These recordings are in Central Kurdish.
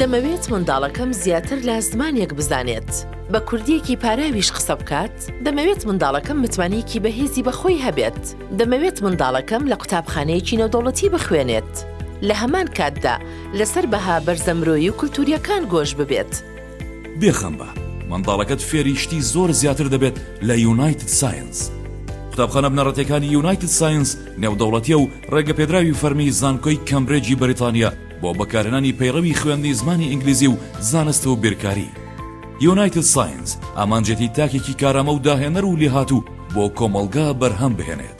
دەمەوێت منداڵەکەم زیاتر لە زمانێک بزانێت بە کوردیەکی پاراویش قسە بکات دەمەوێت منداڵەکەم متمانەیەکی بەهێزی بەخۆی هەبێت دەمەوێت منداڵەکەم لە قوتابخانەیەکی نەودەوڵەتی بخوێنێت لە هەمان کاتدا لەسەر بەها بەرزەمرۆیی و کولتوریەکان گۆش ببێت بێخەمبە منداڵەکەت فێری شتی زۆر زیاتر دەبێت لە یونایتد ساینس. قوتابخانە بنەڕەتیەکانی یونایتد ساینس نێودەوڵەتیە و ڕێگەپێدراوی فەرمی زانکۆی کەمبرێجی بەریتانیە بۆ بەکارهێنانی پەیڕەوی خوێندنی زمانی ئینگلیزی و زانست و بیرکاری. یونایتد ساینس ئامانجێتی تاکێکی کارامە و داهێنەر و لێهاتوو بۆ کۆمەڵگا بەرهەم بهێنێت.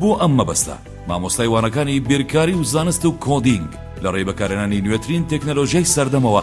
بۆ ئەم مەبەستە مامۆستای وانەکانی بیرکاری و زانست و کۆدینگ لەڕێی بەکارهێنانی نوێترین تەکنەلۆژیای سەردەمەوە،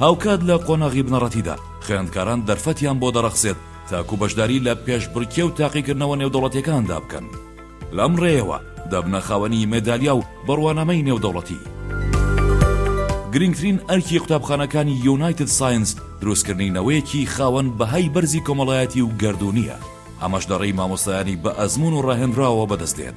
هاوکات لە قۆناغی بنەڕەتیدا، خوێندکاران دەرفەتیان بۆ دەڕەخسێت تاکو بەشداری لە پێشبڕکێ و تاقیکردنەوە نێودەوڵەتیەکاندا بکەن، لەم ڕێیەوە دەبنە خاوەنی مەدالیا و بڕوانامەی نێودەوڵەتی. گرنگترین ئەرکی قوتابخانەکانی یونایتد ساینس دروستکردنی نەوەیەکی خاوەن بەهای بەرزی کۆمەڵایەتی و گەردوونییە، ئەمەش لەڕێی مامۆستایانی بەئەزموون و ڕاهێنراوەوە بەدەستدێت،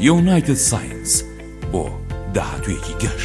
یونایتد ساینس بۆ داهاتوویەکی گەش.